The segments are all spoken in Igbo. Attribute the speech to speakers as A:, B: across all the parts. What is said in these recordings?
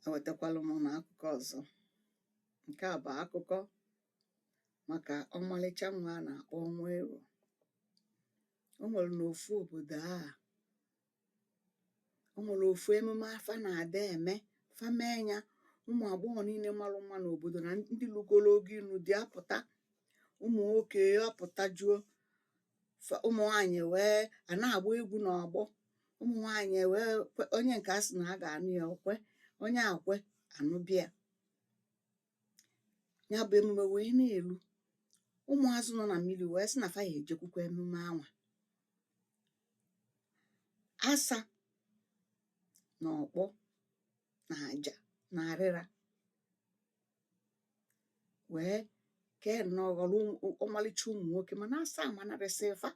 A: ewetakwala m unu akụkọ ọzọ nke a bụ akụkọ maka ọmalịcha nwa a na-akpọ ọnwụero o nwere n'ofu obodo a o nwere ofu emume a fa na-adị eme fa mee ya ụmụ agbọghọ niile marụ mma n'obodo na ndị lugoro oge ịnụ di apụta ụmụ nwoke apụtajuo fa- ụmụ nwaanyị wee a na-agba egwu n'ọgbọ ụmụ nwaanyị wee kwe- onye nke a sị na a ga-anụ ya o kwe onye akwe anụbịa ya bụ emume wee na-elu ụmụazụ nọ na mmiri wee sị na fa ya ejekwukwa emume anwa asa na ọkpọ na aja na arịra wee kee nnọọ ghọrọ ọmalịcha ụmụ nwoke mana asa amanarịsị fa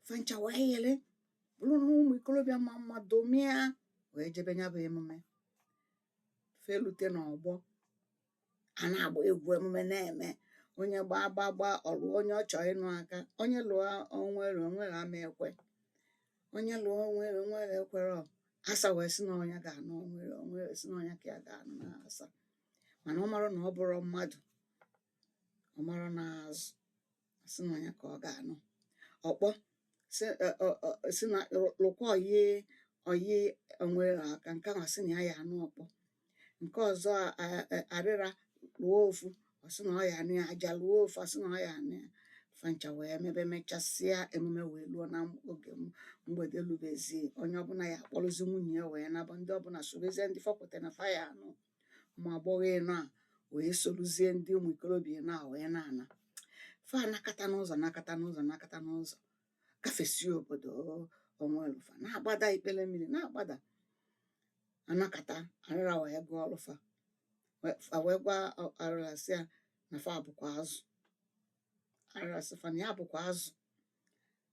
A: fa ncha wee yere bụrụ na ụmụ ikolobịa ma mma domia wee jebe ya bụ emume fa elute n'ọgbọ a na-agba egwu emume na-eme onye gbaa gba gba ọ lụọ onye ọ chọrọ ịnụ aka onye lụọ ọnwụero ọnwụero ama ekwe onye lụọ ọnwụero ọnwụero ekwerọ asa wee sị na ọ nya ga-anụ ọnwụero o wee sị na ọ nya ka ya ga-anụ na asa mana ọ marọ na ọ bụrọ mmadụ ọ marọ na azụ sị na ọ nya ka ọ ga-anụ ọkpọ sị ọ- ọ- ọ- sị na lụkwa ọyị ọyị ọnwụero aka nke ahụ sị na ya ya anụ ọkpọ nke ọzọ arịra lụọ ofu ọ sị na ọ ya anụ ya aja lụọ ofu ọ sị na ọ ya anụ ya fa ncha wee mebe mechasịa emume wee luo na oge mgbede lubezi onye ọbụla ya akpọrọzi nwunye ya wee naba ndị ọbụla sorozie ndị fọpụta na fa ya anụ ụmụ agbọghọ ịnọ a wee sorozie ndị ụmụ ikorobịa ịnọ a wee na-ana fa anakata n'ụzọ nakata n'ụzọ nakata n'ụzọ gafesie obodo o wee luo fa na-agbada ikpere mmiri na-agbada a nakata arịra wee gwa ọlụfa fa wee gwa arịra sị ya na fa bụkwa azụ arịra sị fa na ya bụkwa azụ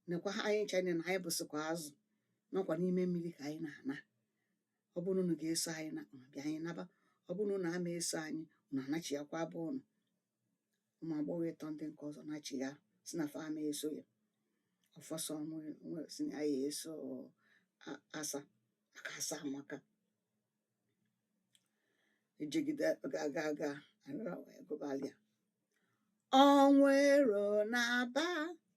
A: nekwa anyị ncha na anyị bụsịkwa azụ nakwa n'ime mmiri ka anyị na-ana ọ bụrụ na unu ga-eso anyị na unu bịa anyị naba ọ bụrụ na unu ama eso anyị unu anachiakwa be unu ụmụ agbọghọ ịtọ ndị nke ọzọ nachigha sị na fa ama eso ya ọ fọ sọ sị na ya eso asa maka asa amaka e jegide gaa gaa gaa arịra wee gụbalịa ọnwụero naba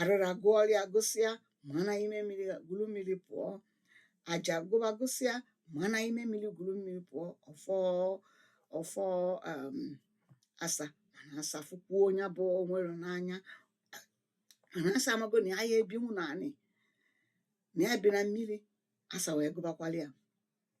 A: arịra gụọlụ ya gụsịa maa n'ime mmiri gwuru mmiri pụọ aja gụba gụsịa maa n'ime mmiri gwuru mmiri pụọ ọfọ ọfọ um, asa mana asa fụkwuo nya bụ Onwuero n'anya mana asa amago na ya ya ebinwu na anị na ya bi na mmiri asa wee gụbakwalụ ya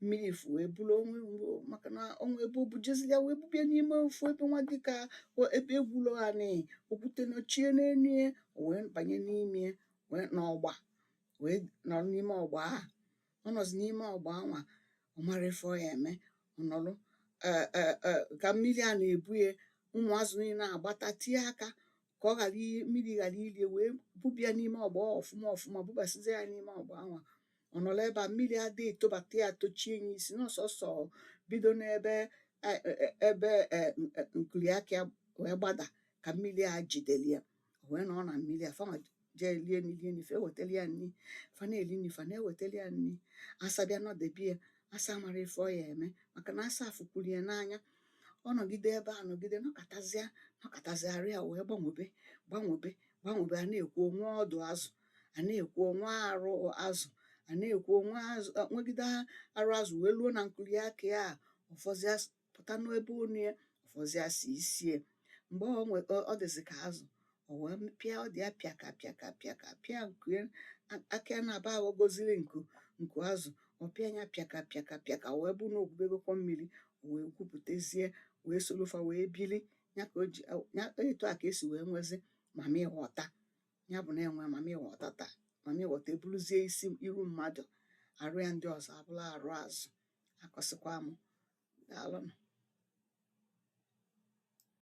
A: mmiri fụ ebulu Onwuero maka na o wee bu- bujezi ya wee bubie n'ime ofu ebe nwa dịka o- ebe egwulo anị okwute nọchie n'enu ya o wee banye n'ime ya wee n'ọgba wee nọrọ n'ime ọgba ahụ ọ nọzi n'ime ọgba anwa ọ marọ ife ọ ya eme ọ nọrọ eh, eh, eh, ka mmiri a na-ebu ya ụmụazụ niile agbata tie aka ka ọ ghara i- mmiri ghara ili ya o wee bubia n'ime ọgba ọfụma ọfụma bubasizie ya n'ime ọgba anwa ọ nọrọ ebe a mmiri adị etobata ya tochie ya isi na sọsọ bido n'ebe e- e- e- ebe e- n- e- nkuli aka ya wee gbada ka mmiri a jidere ya O wee nọ na mmiri a fanwa jee lie nri lie nri fa ewetalụ ya nri fa na-eli nri fa na-ewetalụ ya nri asa bịa nọdebe ya asa amarọ ife ọ ya eme maka na asa afụkwuru ya n'anya ọ nọgide ebe a nọgide nọkatazịa nọkatazịa arụ ya wee gbanwebe gbanwebe gbanwebe a na-ekwu o nwee ọdụ azụ a na-ekwu o nwee arụ azụ a na-ekwu o nwee azụ nwegide arụ azụ wee luo na nkuli aka ya a, ụfọdụ as- pụta n'ebe onu ya ọ fọzịa sọ isi e mgbe ọ nwe ọ dịzị ka azụ o wee pịa ọdụ ya pịaka pịaka pịaka pịa nku ya aka ya naabọ aghọgoziri nku nku azụ ọ pịa ya pịaka pịaka pịaka o wee bụ na o gwubegokwa mmiri o wee gwupụtezie wee soro fa wee bili ya ka o ji ya etu a ka e si wee nwezi Mami Wata ya bụ na e nwee Mami Wata taa Mami Wata eburuzie isi iru mmadụ arụ ya ndị ọzọ abụrụ arụ azụ akọsịkwa m daalụnụ